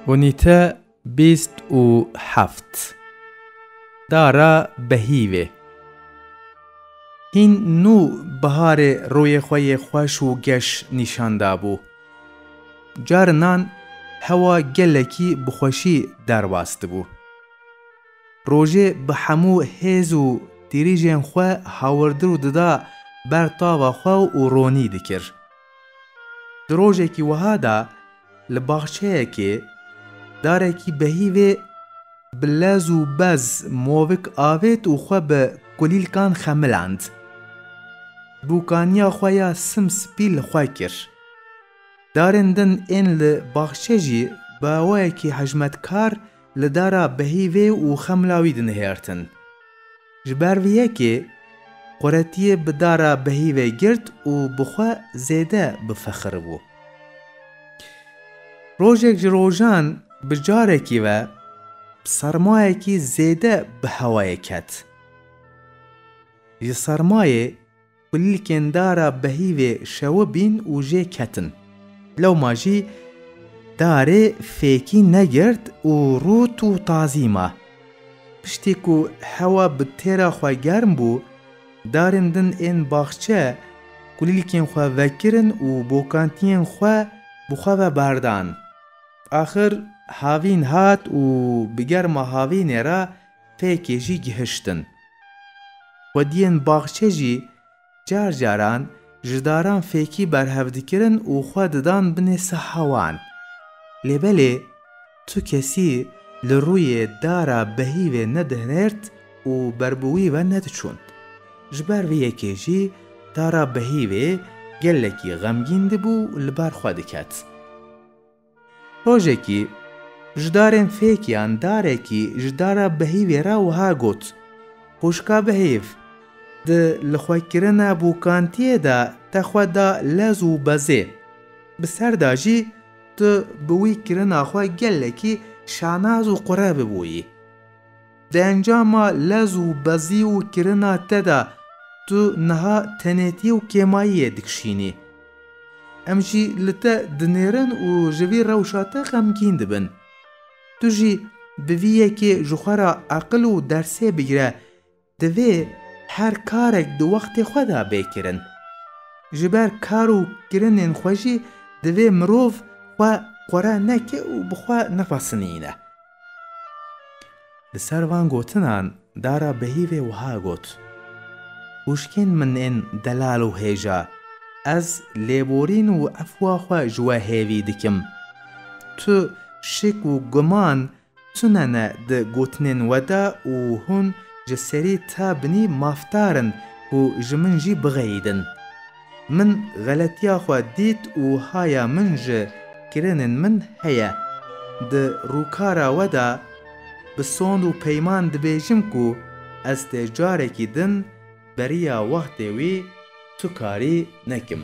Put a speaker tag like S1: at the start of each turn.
S1: Unîte bîst û heft Dara behîvê Hîn nû biharê rûyê xwe yê xweş û geş nîşan dabû. Carinan hewa gelekî bi xweşî derbas dibû. Rojê bi hemû hêz û tirîjên xwe hawirdir û dida ber tava xwe û ronî dikir. Di rojekî wiha de li baxçeyekê darekî behîvê bi lez û bez movik avêt û xwe bi kulîlkan xemilend. Bûkaniya xwe ya sim spî li xwe kir. Darên din ên li baxçe jî bi awayekî hejmetkar Li dara behîvê û xemla wî dinihêrtin. Ji ber vê yekê Quretiyê bi dara behîvê girt û bi xwe zêde bifexiribû. Rojek ji rojan bi carekî ve sermayekî zêde bi hewayê ket. Ji sermayê Kulîlkên dara behîvê şewibîn û jê ketin. Lewma jî darê fêkî negirt û rût û tazî ma. Piştî ku hewa bi têra xwe germ bû, darên din ên baxçe kulîlkên xwe vekirin û bokantiyên xwe bi xwe ve berdan. Axir havîn hat û bi germa havînê re Pêkê jî gihiştin. Xwediyên baxçe jî car caran ji daran fêkî berhev dikirin û xwe didan binê siha wan. Lê belê tu kesî li rûyê dara behîvê nedihnêrt û ber bi wî ve nediçûn. Ji ber vê yekê jî dara behîvê gelekî xemgîn dibû û li ber xwe diket. Rojekî ji darên fêkiyan darekî ji dara behîvê re wiha got, Xwişka bihêv, di lixwekirina bûkantiyê de te xwe da lez û bezê. Bi ser de jî tu bi wî kirina xwe gelekî şanaz û qurebi bûyî. Di encama lez û bezî û kirina te de tu niha tenêtî û kêmayiyê dikişînî. Em jî li te dinêrin û ji vî rewşa te xemgîn dibin. Tu jî bi vî yekê ji xwe re eqil û dersê bigire, divê her karek di wextê xwe de bê kirin. Ji ber kar û kirinên xwe jî divê mirov xwe qure neke û bi xwe nefesinîne. Li ser van gotinan Dara Behîvê wiha got, Hûşkên min ên delal û hêja, ez lêborîn û efwa xwe ji we hêvî dikim. Tu şik û guman tune ne di gotinên we de û hûn ji serî te binî mafdar in ku ji min jî bixeyidin. Min xeletiya xwe dît û haya min ji kirinên min heye. Di rûkara we de bi sond û peyman dibêjim ku ez tê carekî din beriya wextê wî tu karî nekim.